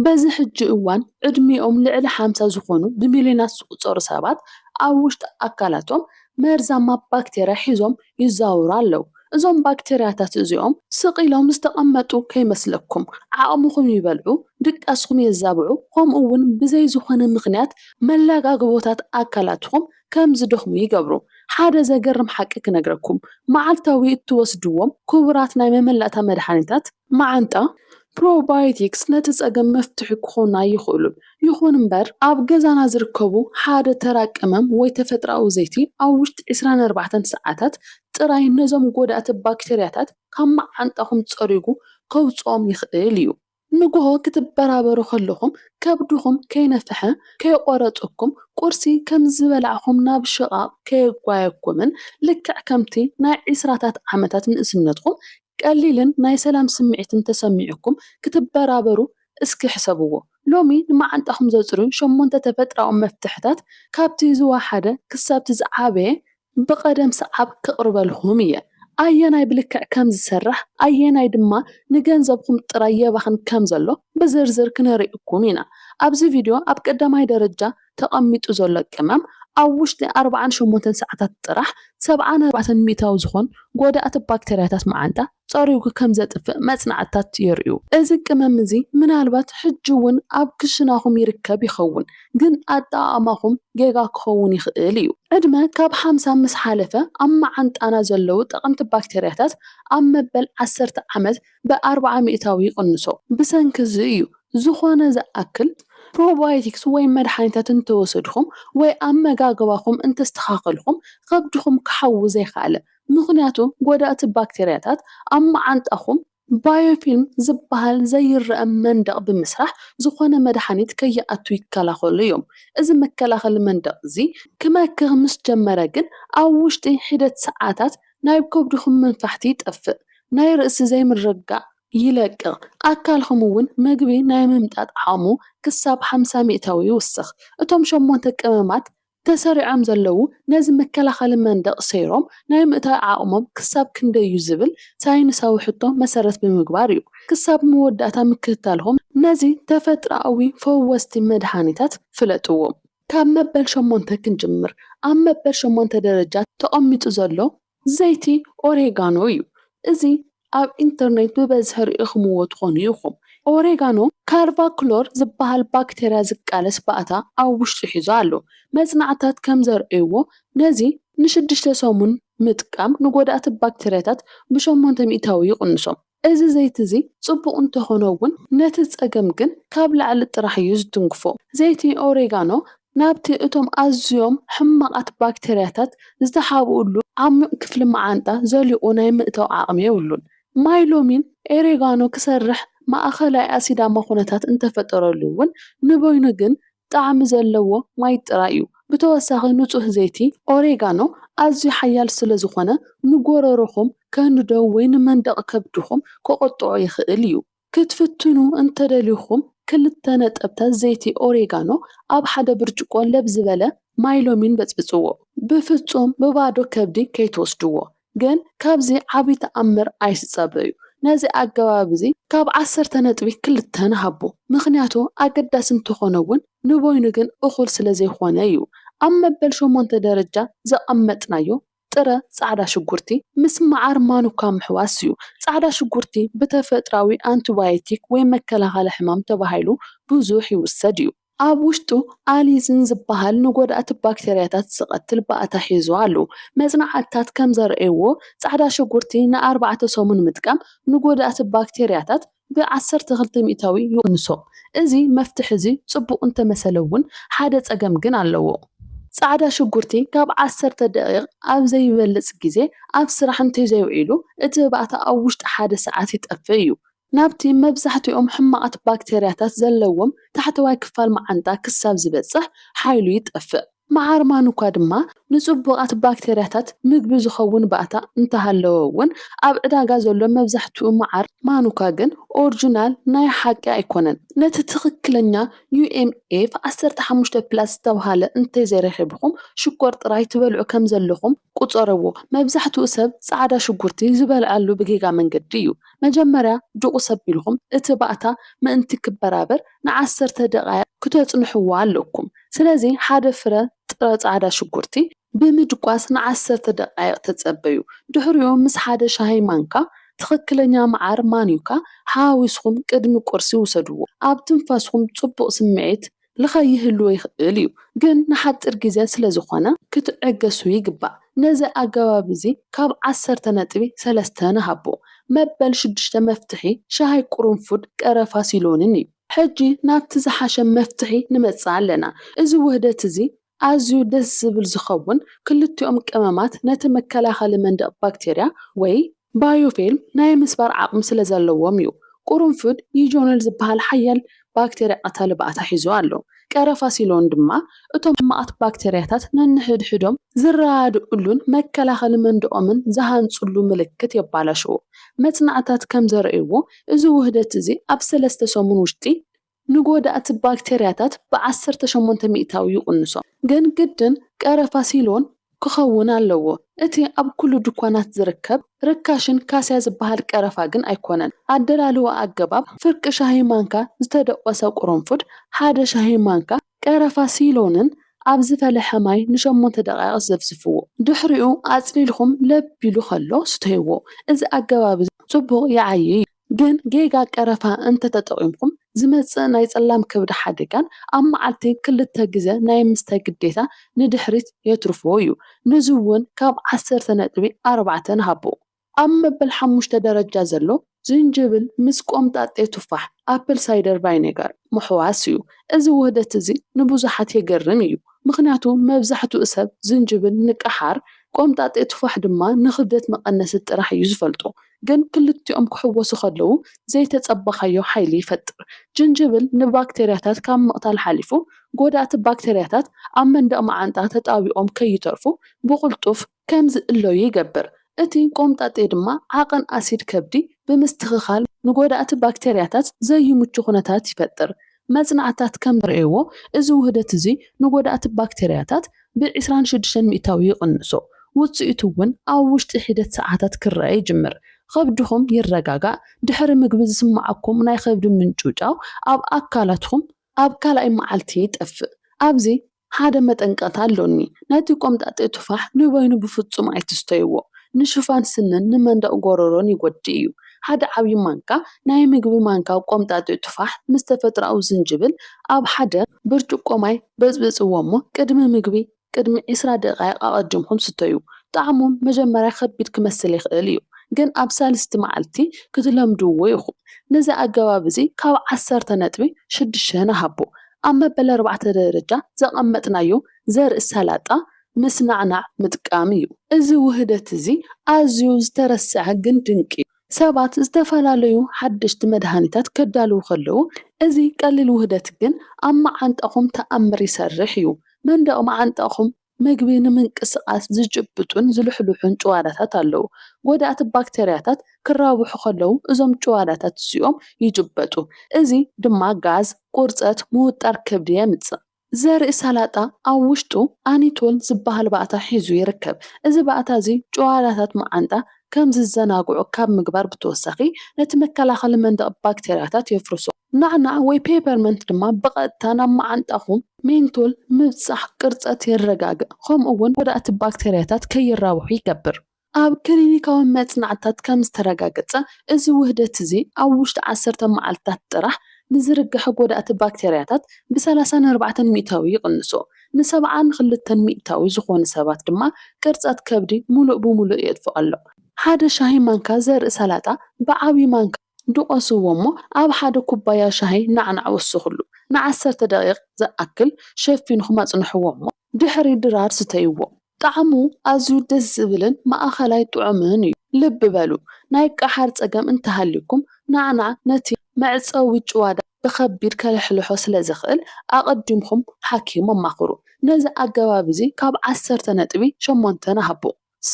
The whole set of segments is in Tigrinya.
በዚ ሕጂ እዋን ዕድሚኦም ልዕሊ ሓምሳ ዝኾኑ ብሚልዮናት ዝቑጸሩ ሰባት ኣብ ውሽጢ ኣካላቶም መርዛማ ባክተርያ ሒዞም ይዛወሩ ኣለዉ። እዞም ባክተርያታት እዚኦም ስቕ ኢሎም ዝተቐመጡ ከይመስለኩም፣ ዓቕምኹም ይበልዑ፣ ድቃስኹም የዛብዑ ከምኡ'ውን ብዘይ ዝኾነ ምኽንያት መላጋግቦታት ኣካላትኹም ከም ዝደኽሙ ይገብሩ። ሓደ ዘገርም ሓቂ ክነግረኩም፣ መዓልታዊ እትወስድዎም ክቡራት ናይ መመላእታ መድሃኒታት፣ መዓንጣ ፕሮባዮቲክስ ነቲ ጸገም መፍትሒ ክኾኑ ኣይኽእሉን። ይኹን እምበር ኣብ ገዛና ዝርከቡ ሓደ ተራ ቀመም ወይ ተፈጥሮኣዊ ዘይቲ ኣብ ውሽጢ ዕስራን ኣርባዕተን ሰዓታት ጥራይ ነዞም ጎዳእቲ ባክተርያታት ካብ መዓንጣኹም ጸሪጉ ከውጽኦም ይኽእል እዩ። ንግሆ ክትበራበሩ ከለኹም ከብድኹም ከይነፍሐ፣ ከየቖረጸኩም፣ ቁርሲ ከም ዝበላዕኩም ናብ ሽቓቕ ከየጓየኩምን ልክዕ ከምቲ ናይ ዕስራታት ዓመታት ንእስነትኩም ቀሊልን ናይ ሰላም ስምዒት እንተሰሚዑኩም ክትበራበሩ እስኪ ሕሰብዎ። ሎሚ ንመዓንጣኹም ዘጽርዩ ሸሞንተ ተፈጥራዊ መፍትሕታት ካብቲ ዝወሓደ ክሳብቲ ዝዓበየ ብቐደም ሰዓብ ክቕርበልኹም እየ። ኣየናይ ብልክዕ ከም ዝሰርሕ ኣየናይ ድማ ንገንዘብኹም ጥራይ የባኽን ከም ዘሎ ብዝርዝር ክነርእኩም ኢና። ኣብዚ ቪድዮ ኣብ ቀዳማይ ደረጃ ተቐሚጡ ዘሎ ቅመም ኣብ ውሽጢ ኣርብዓን ሸሞንተን ሰዓታት ጥራሕ ሰብዓን ኣርባዕተን ሚእታዊ ዝኾን ጎዳእቲ ባክተርያታት መዓንጣ ጸሪጉ ከም ዘጥፍእ መጽናዕትታት የርእዩ። እዚ ቅመም እዚ ምናልባት ሕጂ እውን ኣብ ክሽናኹም ይርከብ ይኸውን፣ ግን ኣጠቓቕማኹም ጌጋ ክኸውን ይኽእል እዩ። ዕድመ ካብ ሓምሳ ምስ ሓለፈ ኣብ መዓንጣና ዘለዉ ጠቐምቲ ባክተርያታት ኣብ መበል ዓሰርተ ዓመት ብኣርብዓ ሚእታዊ ይቕንሶ። ብሰንኪ እዚ እዩ ዝኾነ ዝኣክል ፕሮባዮቲክስ ወይ መድሓኒታት እንተወሰድኹም ወይ ኣመጋግባኹም እንተስተኻኸልኹም ኸብድኹም ክሓዊ ዘይኸኣለ። ምኽንያቱ ጎዳእቲ ባክተርያታት ኣብ መዓንጣኹም፣ ባዮፊልም ዝበሃል ዘይረኣ መንደቕ ብምስራሕ ዝኾነ መድሓኒት ከይኣቱ ይከላኸሉ እዮም። እዚ መከላኸሊ መንደቕ እዚ ክመክኽ ምስ ጀመረ ግን ኣብ ውሽጢ ሒደት ሰዓታት ናይ ከብድኹም መንፋሕቲ ይጠፍእ፣ ናይ ርእሲ ዘይምርግጋእ ይለቅቕ፣ ኣካልኹም እውን መግቢ ናይ ምምጣጥ ዓቕሙ ክሳብ ሓምሳ ሚእታዊ ይውስኽ። እቶም ሸሞንተ ቀመማት ተሰሪዖም ዘለዉ ነዚ መከላኸሊ መንደቕ ሰይሮም ናይ ምእታው ዓቕሞም ክሳብ ክንደይ እዩ ዝብል ሳይንሳዊ ሕቶ መሰረት ብምግባር እዩ ክሳብ መወዳእታ ምክትታልኩም ነዚ ተፈጥሮኣዊ ፈወስቲ መድሃኒታት ፍለጥዎም። ካብ መበል ሸሞንተ ክንጅምር፣ ኣብ መበል ሸሞንተ ደረጃ ተቐሚጡ ዘሎ ዘይቲ ኦሬጋኖ እዩ። እዚ ኣብ ኢንተርኔት ብበዝሒ ርኢኹምዎ ትኾኑ ኢኹም። ኦሬጋኖ ካርቫክሎር ዝበሃል ባክተርያ ዝቃለስ ባእታ ኣብ ውሽጡ ሒዙ ኣሎ። መጽናዕትታት ከም ዘርእይዎ ነዚ ንሽዱሽተ ሰሙን ምጥቃም ንጎዳእቲ ባክተርያታት ብሸሞንተ ሚእታዊ ይቕንሶም። እዚ ዘይቲ እዚ ጽቡቕ እንተኾነ እውን ነቲ ጸገም ግን ካብ ላዕሊ ጥራሕ እዩ ዝትንክፎ። ዘይቲ ኦሬጋኖ ናብቲ እቶም ኣዝዮም ሕማቓት ባክተርያታት ዝተሓብኡሉ ዓሚቕ ክፍሊ መዓንጣ ዘሊቑ ናይ ምእታው ዓቕሚ የብሉን። ማይ ሎሚን ኦሬጋኖ ክሰርሕ ማእከላይ ኣሲዳማ ኩነታት እንተፈጠረሉ እውን ንበይኑ ግን ጣዕሚ ዘለዎ ማይ ጥራይ እዩ። ብተወሳኺ ንጹህ ዘይቲ ኦሬጋኖ ኣዝዩ ሓያል ስለዝኾነ ንጎሮሮኹም ከንድዶ ወይ ንመንደቕ ከብድኹም ክቕጥዖ ይኽእል እዩ። ክትፍትኑ እንተደሊኹም ክልተ ነጠብታት ዘይቲ ኦሬጋኖ ኣብ ሓደ ብርጭቆ ለብ ዝበለ ማይ ሎሚን በጽብጽዎ። ብፍጹም ብባዶ ከብዲ ከይትወስድዎ። ግን ካብዚ ዓቢ ተኣምር ኣይትጸበዩ ነዚ ኣገባብ እዚ ካብ ዓሰርተ ነጥቢ ክልተ ንሃቦ ምኽንያቱ ኣገዳሲ እንተኾነ ውን ንበይኑ ግን እኹል ስለዘይኾነ ዩ ኣብ መበል ሸሞንተ ደረጃ ዘቐመጥናዮ ጥረ ጻዕዳ ሽጉርቲ ምስ መዓር ማኑካ ምሕዋስ ዩ ጻዕዳ ሽጉርቲ ብተፈጥራዊ ኣንቲባዮቲክ ወይ መከላኸሊ ሕማም ተባሂሉ ብዙሕ ይውሰድ ዩ ኣብ ውሽጡ ኣሊዝን ዝበሃል ንጎዳእቲ ባክተርያታት ዝቐትል ባእታ ሒዙ ኣሎ። መጽናዕትታት ከም ዘርእይዎ፣ ጻዕዳ ሽጉርቲ ንኣርባዕተ ሰሙን ምጥቃም ንጎዳእቲ ባክተርያታት ብ ዓሰርተ ክልተ ሚእታዊ ይቕንሶ። እዚ መፍትሒ እዚ ጽቡቕ እንተመሰለ እውን ሓደ ጸገም ግን ኣለዎ። ጻዕዳ ሽጉርቲ ካብ ዓሰርተ ደቒቕ ኣብ ዘይበልጽ ግዜ ኣብ ስራሕ እንተዘይውዒሉ እቲ ባእታ ኣብ ውሽጢ ሓደ ሰዓት ይጠፍእ እዩ። ናብቲ መብዛሕትኦም ሕማቓት ባክተርያታት ዘለዎም ታሕተዋይ ክፋል መዓንጣ ክሳብ ዝበጽሕ ሓይሉ ይጠፍእ። መዓርማኑ'ኳ ድማ ንጽቡቓት ባክተርያታት ምግቢ ዝኸውን ባእታ እንተሃለዎ'ውን፣ ኣብ ዕዳጋ ዘሎ መብዛሕትኡ መዓር ማኑካ ግን ኦርጅናል ናይ ሓቂ ኣይኮነን። ነቲ ትኽክለኛ UMF ዓሰርተ ሓሙሽተ ፕላስ ዝተብሃለ እንተዘይረኺብኩም ሽኮር ጥራይ ትበልዑ ከምዘለኹም ቁጸርዎ መብዛሕትኡ ሰብ ጻዕዳ ሽጉርቲ ዝበልዐሉ ብጌጋ መንገዲ እዩ። መጀመርያ ድቑስ ኣቢልኩም እቲ ባእታ ምእንቲ ክበራበር ንዓሰርተ ደቓይቕ ክተጽንሕዎ ኣለኩም። ስለዚ ሓደ ፍረ ጥረ ጻዕዳ ሽጉርቲ ብምድቋስ ንዓሰርተ ደቓይቕ ተጸበዩ። ድሕሪኡ ምስ ሓደ ሻሂ ማንካ ትኽክለኛ መዓር ማንዩካ ሓዋዊስኩም ቅድሚ ቁርሲ ውሰድዎ። ኣብ ትንፋስኩም ጽቡቕ ስምዒት ልኻይ ይህልዎ ይኽእል እዩ፣ ግን ንሓጺር ግዜ ስለ ዝኾነ ክትዕገሱ ይግባእ። ነዚ ኣገባብ እዚ ካብ ዓሰርተ ነጥቢ ሰለስተ ንሃቦ። መበል ሽዱሽተ መፍትሒ ሻሂ ቁሩንፉድ፣ ቀረፋ፣ ሲሎንን እዩ። ሕጂ ናብቲ ዝሓሸ መፍትሒ ንመጽእ ኣለና። እዚ ውህደት እዚ ኣዝዩ ደስ ዝብል ዝኸውን ክልቲኦም ቀመማት ነቲ መከላኸሊ መንደቕ ባክቴርያ ወይ ባዮፊልም ናይ ምስባር ዓቕሚ ስለ ዘለዎም እዩ። ቁሩንፉድ ዩጆኖል ዝበሃል ሓያል ባክቴርያ ቀታሊ ባእታ ሒዙ ኣሎ፣ ቀረፋ ሲሎን ድማ እቶም ሕማቓት ባክቴርያታት ነንሕድሕዶም ዝረዳድኡሉን መከላኸሊ መንደቖምን ዝሃንጹሉ ምልክት የባላሽዎ። መጽናዕትታት ከም ዘርእይዎ እዚ ውህደት እዚ ኣብ ሰለስተ ሰሙን ውሽጢ ንጎዳእቲ ባክተርያታት ብዓሰርተ ሸሞንተ ሚእታዊ ይቕንሶ። ግን ግድን ቀረፋ ሲሎን ክኸውን ኣለዎ። እቲ ኣብ ኩሉ ድኳናት ዝርከብ ርካሽን ካስያ ዝበሃል ቀረፋ ግን ኣይኮነን። ኣደላልዋ ኣገባብ፣ ፍርቂ ሻሂ ማንካ ዝተደቖሰ ቁሩንፉድ፣ ሓደ ሻሂ ማንካ ቀረፋ ሲሎንን ኣብ ዝፈለሐ ማይ ንሸሞንተ ደቓይቕ ዘፍዝፍዎ። ድሕሪኡ ኣጽሊልኩም ለብ ኢሉ ከሎ ስተይዎ። እዚ ኣገባብ'ዚ ጽቡቕ ይዓይ'ዩ። ግን ጌጋ ቀረፋ እንተተጠቒምኩም ዝመጽእ ናይ ጸላም ከብዲ ሓደጋን ኣብ መዓልቲ ክልተ ግዘ ናይ ምስታይ ግዴታ ንድሕሪት የትርፎ እዩ። ነዚ እውን ካብ ዓሰርተ ነጥቢ ኣርባዕተ ንሃቦ። ኣብ መበል ሓሙሽተ ደረጃ ዘሎ ዝንጅብል ምስ ቆምጣጤ ቱፋሕ፣ ኣፕል ሳይደር ቫይኔጋር፣ ምሕዋስ እዩ። እዚ ውህደት እዚ ንብዙሓት የገርም እዩ፣ ምኽንያቱ መብዛሕትኡ ሰብ ዝንጅብል ንቀሓር፣ ቆምጣጤ ቱፋሕ ድማ ንኽብደት መቐነሲ ጥራሕ እዩ ዝፈልጦ። ግን ክልቲኦም ክሕወሱ ከለዉ ዘይተጸበኻዮ ሓይሊ ይፈጥር። ጅንጅብል ንባክተርያታት ካብ ምቕታል ሓሊፉ፣ ጎዳእቲ ባክተርያታት ኣብ መንደቕ መዓንጣ ተጣቢቖም ከይተርፉ ብቕልጡፍ ከም ዝእለዩ ይገብር። እቲ ቆምጣጤ ድማ ዓቐን ኣሲድ ከብዲ ብምስትኽኻል ንጎዳእቲ ባክተርያታት ዘይምቹ ኩነታት ይፈጥር። መጽናዕትታት ከም ዘርእየዎ እዚ ውህደት እዚ ንጎዳእቲ ባክተርያታት ብ ዕስራን ሽዱሽተን ሚእታዊ ይቕንሶ። ውጽኢቱ እውን ኣብ ውሽጢ ሒደት ሰዓታት ክረኣ ይጅምር። ኸብድኹም ይረጋጋእ፣ ድሕሪ ምግቢ ዝስምዓኩም ናይ ኸብዲ ምንጭውጫው ኣብ ኣካላትኩም ኣብ ካልኣይ መዓልቲ ይጠፍእ። ኣብዚ ሓደ መጠንቀቕታ ኣሎኒ፣ ነቲ ቆምጣጤ ቱፋሕ ንበይኑ ብፍጹም ኣይትስተይዎ፣ ንሽፋን ስንን ንመንደቕ ጎረሮን ይጐድእ እዩ። ሓደ ዓብዪ ማንካ ናይ ምግቢ ማንካ ቆምጣጤ ቱፋሕ ምስ ተፈጥሮኣዊ ዝንጅብል ኣብ ሓደ ብርጭቆ ማይ በጽብጽዎ እሞ ቅድሚ ምግቢ ቅድሚ ዕስራ ደቓይቕ ኣቐዲምኩም ስተዩ። ጣዕሙ መጀመርያ ከቢድ ክመስል ይኽእል እዩ፣ ግን ኣብ ሳልስቲ መዓልቲ ክትለምድዎ ኢኹም። ነዚ ኣገባብ እዚ ካብ ዓሰርተ ነጥቢ ሽዱሽተ ንሃቦ። ኣብ መበል ኣርባዕተ ደረጃ ዘቐመጥናዮ ዘርኢ ሰላጣ ምስ ናዕናዕ ምጥቃም እዩ። እዚ ውህደት እዚ ኣዝዩ ዝተረስዐ ግን ድንቂ እዩ። ሰባት ዝተፈላለዩ ሓደሽቲ መድሃኒታት ከዳልዉ ከለዉ፣ እዚ ቀሊል ውህደት ግን ኣብ መዓንጣኹም ተኣምር ይሰርሕ እዩ። መንደቕ መዓንጣኹም መግቢ ንምንቅስቓስ ዝጭብጡን ዝልሕልሑን ጭዋዳታት ኣለዉ። ጐዳእቲ ባክተርያታት ክራብሑ ከለዉ እዞም ጭዋዳታት እዚኦም ይጭበጡ፣ እዚ ድማ ጋዝ፣ ቁርጸት፣ ምውጣር ከብዲ የምጽእ። ዘርኢ ሰላጣ ኣብ ውሽጡ ኣኒቶል ዝበሃል ባእታ ሒዙ ይርከብ። እዚ ባእታ እዚ ጭዋዳታት መዓንጣ ከም ዝዘናግዑ ካብ ምግባር ብተወሳኺ ነቲ መከላኸሊ መንደቕ ባክተርያታት የፍርሶ። ናዕናዕ ወይ ፔፐርመንት ድማ ብቐጥታ ናብ መዓንጣኹም፣ ሜንቶል፣ ምብጻሕ ቅርጸት የረጋግእ ከምኡ'ውን ጎዳእቲ ባክተርያታት ከይራብሑ ይገብር። ኣብ ክሊኒካዊ መጽናዕትታት ከም ዝተረጋገጸ፣ እዚ ውህደት እዚ ኣብ ውሽጢ ዓሰርተ መዓልትታት ጥራሕ ንዝርገሐ ጎዳእቲ ባክተርያታት ብሰላሳ ንኣርባዕተ ሚእታዊ ይቕንሶ፣ ንሰብዓ ንክልተ ሚእታዊ ዝኾኑ ሰባት ድማ ቅርጸት ከብዲ ምሉእ ብምሉእ የጥፍኦ ኣሎ። ሓደ ሻሂ ማንካ ዘርኢ ሰላጣ ብዓቢ ማንካ። ድቖስዎ እሞ ኣብ ሓደ ኩባያ ሻሂ ናዕናዕ ወስኹሉ። ንዓሰርተ ደቒቕ ዝኣክል ሸፊንኩም ኣጽንሕዎ እሞ ድሕሪ ድራር ስተይዎ። ጣዕሙ ኣዝዩ ደስ ዝብልን ማእከላይ ጥዑምን እዩ። ልቢ በሉ ናይ ቀሓር ጸገም እንተሃልዩኩም ናዕናዕ ነቲ መዕጸዊ ጭዋዳ ብኸቢድ ከልሕልሖ ስለ ዝኽእል ኣቐዲምኩም ሓኪም ኣማኽሩ። ነዚ ኣገባብ እዚ ካብ ዓሰርተ ነጥቢ ሸሞንተ ንሃቦ።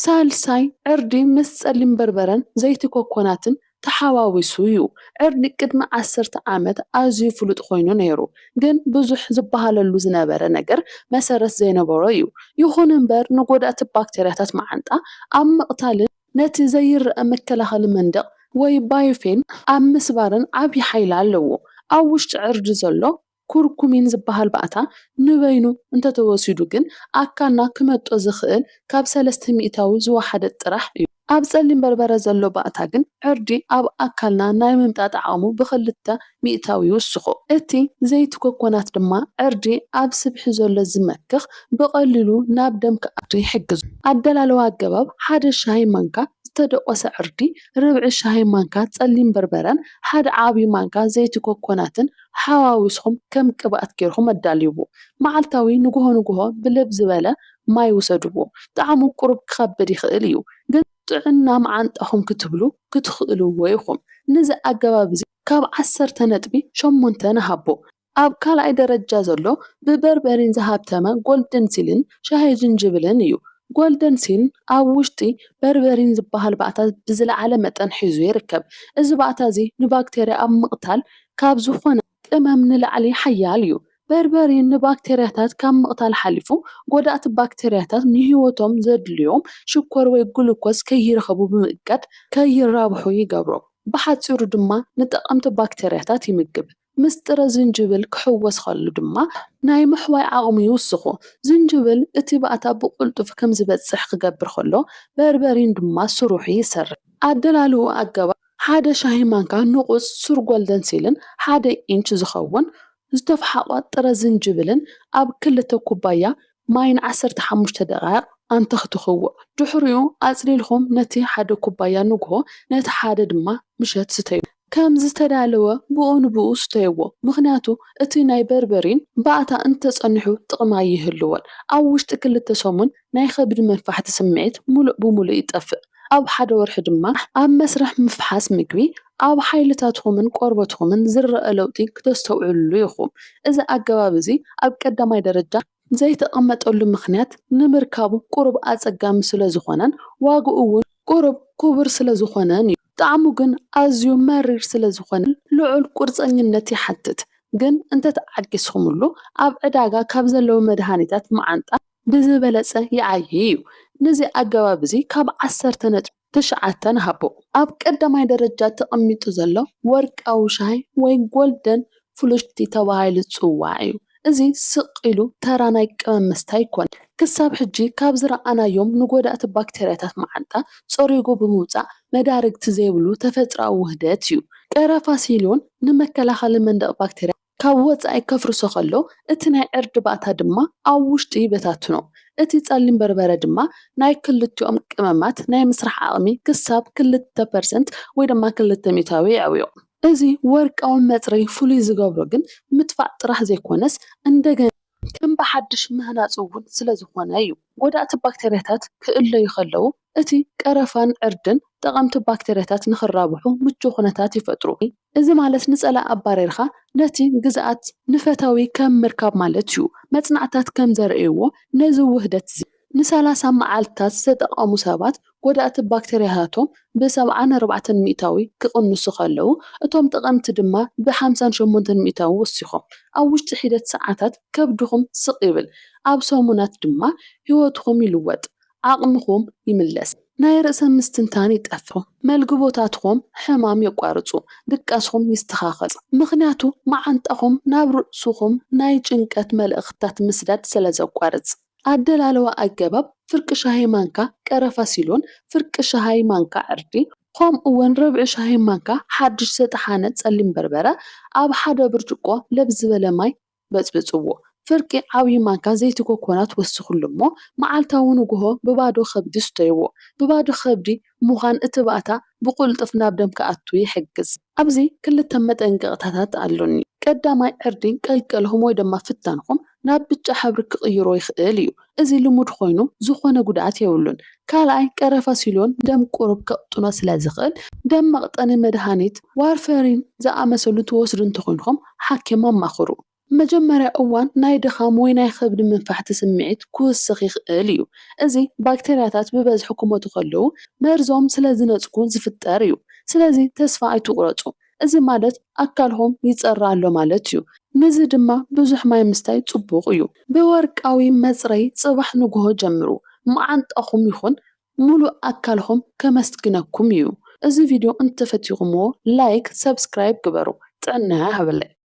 ሳልሳይ፣ ዕርዲ ምስ ጸሊም በርበረን ዘይቲ ኮኮናትን ተሓዋዊሱ ዩ። ዕርዲ ቅድሚ ዓሰርተ ዓመት ኣዝዩ ፍሉጥ ኮይኑ ነይሩ፣ ግን ብዙሕ ዝበሃለሉ ዝነበረ ነገር መሰረት ዘይነበሮ ዩ። ይኹን እምበር ንጎዳእቲ ባክተርያታት መዓንጣ ኣብ ምቕታልን ነቲ ዘይረኣ መከላኸሊ መንደቕ ወይ ባዮፌን ኣብ ምስባርን ዓብዪ ሓይሊ ኣለዎ። ኣብ ውሽጢ ዕርዲ ዘሎ ኩርኩሚን ዝበሃል ባእታ ንበይኑ እንተተወሲዱ ግን ኣካልና ክመጦ ዝኽእል ካብ ሰለስተ ሚእታዊ ዝወሓደ ጥራሕ እዩ። ኣብ ጸሊም በርበረ ዘሎ ባእታ ግን ዕርዲ ኣብ ኣካልና ናይ ምምጣጥ ዓቕሙ ብኽልተ ሚእታዊ ይውስኾ። እቲ ዘይቲ ኮኮናት ድማ ዕርዲ ኣብ ስብሒ ዘሎ ዝመክኽ ብቐሊሉ ናብ ደም ክኣቱ ይሕግዞ። ኣደላልዋ ኣገባብ ሓደ ሻሂ ማንካ ዝተደቖሰ ዕርዲ፣ ርብዒ ሻሂ ማንካ ጸሊም በርበረን ሓደ ዓቢ ማንካ ዘይቲ ኮኮናትን ሓዋዊስኹም ከም ቅብኣት ጌርኹም ኣዳልውዎ። መዓልታዊ ንጉሆ ንጉሆ ብልብ ዝበለ ማይ ውሰድዎ። ጣዕሙ ቁሩብ ክኸብድ ይኽእል እዩ፣ ግን ጥዕና መዓንጣኹም ክትብሉ ክትኽእልዎ ኢኹም። ነዚ ኣገባብ እዚ ካብ ዓሰርተ ነጥቢ ሸሞንተ ንሃቦ። ኣብ ካልኣይ ደረጃ ዘሎ ብበርበሪን ዝሃብተመ ጎልደን ሲልን ሻሂ ጅንጅብልን እዩ። ጎልደን ሲል ኣብ ውሽጢ በርበሪን ዝበሃል ባእታ ብዝለዓለ መጠን ሒዙ ይርከብ። እዚ ባእታ እዚ ንባክተርያ ኣብ ምቕታል ካብ ዝኾነ ቅመም ንላዕሊ ሓያል እዩ። በርበሬ ንባክተርያታት ካብ ምቕታል ሓሊፉ፣ ጎዳእቲ ባክተርያታት ንህይወቶም ዘድልዮም ሽኮር ወይ ግሉኮስ ከይረኽቡ ብምእጋድ ከይራብሑ ይገብሮም። ብሓጺሩ ድማ ንጠቐምቲ ባክተርያታት ይምግብ። ምስ ጥረ ዝንጅብል ክሕወስ ከሎ ድማ ናይ ምሕዋይ ዓቕሙ ይውስኹ። ዝንጅብል እቲ ባእታ ብቕልጡፍ ከም ዝበጽሕ ክገብር ከሎ፣ በርበሬን ድማ ስርሑ ይሰርሕ። ኣደላልውኡ ኣገባብ ሓደ ሻሂ ማንካ ንቑጽ ሱር ጎልደን ሲልን ሓደ ኢንች ዝኸውን ዝተፍሓቖ ጥረ ዝንጅብልን ኣብ ክልተ ኩባያ ማይ ን ዓሰርተ ሓሙሽተ ደቓይቕ ኣንተኽትኽዎ። ድሕሪኡ ኣጽሊልኩም ነቲ ሓደ ኩባያ ንግሆ ነቲ ሓደ ድማ ምሸት ስተዩ። ከም ዝተዳለወ ብኡ ንብኡ ስተይዎ ምኽንያቱ እቲ ናይ በርበሪን ባእታ እንተጸኒሑ ጥቕሚ ኣይህልዎን። ኣብ ውሽጢ ክልተ ሰሙን ናይ ከብዲ መንፋሕቲ ስምዒት ምሉእ ብምሉእ ይጠፍእ። ኣብ ሓደ ወርሒ ድማ ኣብ መስርሕ ምፍሓስ ምግቢ ኣብ ሓይልታትኩምን ቆርበትኩምን ዝረኣ ለውጢ ክተስተውዕሉሉ ኢኹም። እዚ ኣገባብ እዚ ኣብ ቀዳማይ ደረጃ ዘይተቐመጠሉ ምኽንያት ንምርካቡ ቁሩብ ኣጸጋሚ ስለ ዝኾነን ዋጋኡ እውን ቁሩብ ክቡር ስለ ዝኾነን እዩ። ጣዕሙ ግን ኣዝዩ መሪር ስለ ዝኾነ ልዑል ቁርጸኝነት ይሓትት። ግን እንተተዓጊስኹምሉ ኣብ ዕዳጋ ካብ ዘለዉ መድሃኒታት መዓንጣ፣ ብዝበለጸ ይዓዪ እዩ። ነዚ ኣገባብ እዚ ካብ ዓሰርተ ነጥቢ ትሽዓተ ንሃቦ። ኣብ ቀዳማይ ደረጃ ተቐሚጡ ዘሎ ወርቃዊ ሻሂ ወይ ጎልደን ፍሉሽቲ ተባሂሉ ዝጽዋዕ እዩ። እዚ ስቕ ኢሉ ተራ ናይ ቀመም መስተ ኣይኮነን። ክሳብ ሕጂ ካብ ዝረኣናዮም ንጎዳእቲ ባክተርያታት መዓንጣ ጸሪጉ ብምውጻእ መዳርግቲ ዘይብሉ ተፈጥሮኣዊ ውህደት እዩ። ቀረፋ ሲሎን ንመከላኸሊ መንደቕ ባክተርያ፣ ካብ ወጻኢ ከፍርሶ ከሎ፣ እቲ ናይ ዕርዲ ባእታ ድማ ኣብ ውሽጢ ይበታትኖ። እቲ ጸሊም በርበረ ድማ ናይ ክልቲኦም ቀመማት ናይ ምስራሕ ዓቕሚ ክሳብ ክልተ ፐርሰንት ወይ ድማ ክልተ ሚእታዊ የዕብዮ። እዚ ወርቃዊ መጽረዪ ፍሉይ ዝገብሮ ግን ምጥፋእ ጥራሕ ዘይኮነስ እንደገና። ከም ብሓድሽ ምህናጽ እውን ስለ ዝኾነ እዩ። ጎዳእቲ ባክተርያታት ክእለዩ ከለዉ፣ እቲ ቀረፋን ዕርድን ጠቐምቲ ባክተርያታት ንኽራብሑ ምቹእ ኩነታት ይፈጥሩ። እዚ ማለት ንጸላኢ ኣባሪርካ ነቲ ግዝኣት ንፈታዊ ከም ምርካብ ማለት እዩ። መጽናዕትታት ከም ዘርእይዎ ነዚ ውህደት'ዚ ንሰላሳ መዓልትታት ዝተጠቐሙ ሰባት ጎዳእቲ ባክተርያታቶም ብ ሰብዓን ኣርባዕተን ሚእታዊ ክቕንሱ ከለዉ፣ እቶም ጠቐምቲ ድማ ብ ሓምሳን ሸሞንተን ሚእታዊ ወሲኾም። ኣብ ውሽጢ ሒደት ሰዓታት ከብድኹም ስቕ ይብል፣ ኣብ ሰሙናት ድማ ህይወትኹም ይልወጥ፣ ዓቕምኹም ይምለስ፣ ናይ ርእሰ ምስትንታን ይጠፍእ፣ መልግቦታትኹም ሕማም የቋርጹ፣ ድቃስኹም ይስተኻኸል፣ ምኽንያቱ መዓንጣኹም ናብ ርእስኹም ናይ ጭንቀት መልእኽትታት ምስዳድ ስለ ዘቋርጽ። ኣደላልዋ ኣገባብ ፍርቂ ሻሂ ማንካ ቀረፋ ሲሎን፣ ፍርቂ ሻሂ ማንካ ዕርዲ፣ ከምኡ ውን ርብዒ ሻሂ ማንካ ሓድሽ ዝተጠሓነ ጸሊም በርበረ ኣብ ሓደ ብርጭቆ ለብ ዝበለ ማይ በጽብጽዎ። ፍርቂ ዓብዪ ማንካ ዘይቲ ኮኮናት ወስኽሉ እሞ መዓልታዊ ንግሆ ብባዶ ከብዲ ስተይዎ። ብባዶ ከብዲ ምዃን እቲ ባእታ ብቕልጡፍ ናብ ደም ክኣቱ ይሕግዝ። ኣብዚ ክልተ መጠንቀቕታታት ኣሎኒ። ቀዳማይ፣ ዕርዲ ቀልቀልኹም ወይ ደማ ፍታንኹም ናብ ብጫ ሕብሪ ክቕይሮ ይኽእል እዩ። እዚ ልሙድ ኮይኑ ዝኾነ ጉድኣት የብሉን። ካልኣይ፣ ቀረፋ ሲልዮን ደም ቁሩብ ከቕጥኖ ስለ ዝኽእል፣ ደም መቕጠኒ መድሃኒት፣ ዋርፈሪን ዝኣመሰሉ ትወስዱ እንተኾይንኩም ሓኪም ኣማኽሩ። መጀመርያ እዋን ናይ ድኻም ወይ ናይ ኸብዲ ምንፋሕቲ ስምዒት ክውስኽ ይኽእል እዩ። እዚ ባክተርያታት ብበዝሒ ክሞቱ ከለዉ መርዞም ስለ ዝነጽጉ ዝፍጠር እዩ። ስለዚ ተስፋ ኣይትቑረጹ። እዚ ማለት ኣካልኹም ይጸሪ ኣሎ ማለት እዩ። ንዚ ድማ ብዙሕ ማይ ምስታይ ጽቡቕ እዩ። ብወርቃዊ መጽረዪ ጽባሕ ንግሆ ጀምሩ። መዓንጣኹም ይኹን ሙሉእ ኣካልኹም ከመስግነኩም እዩ። እዚ ቪድዮ እንተፈቲኹምዎ ላይክ፣ ሰብስክራይብ ግበሩ። ጥዕና ይሃበለይ።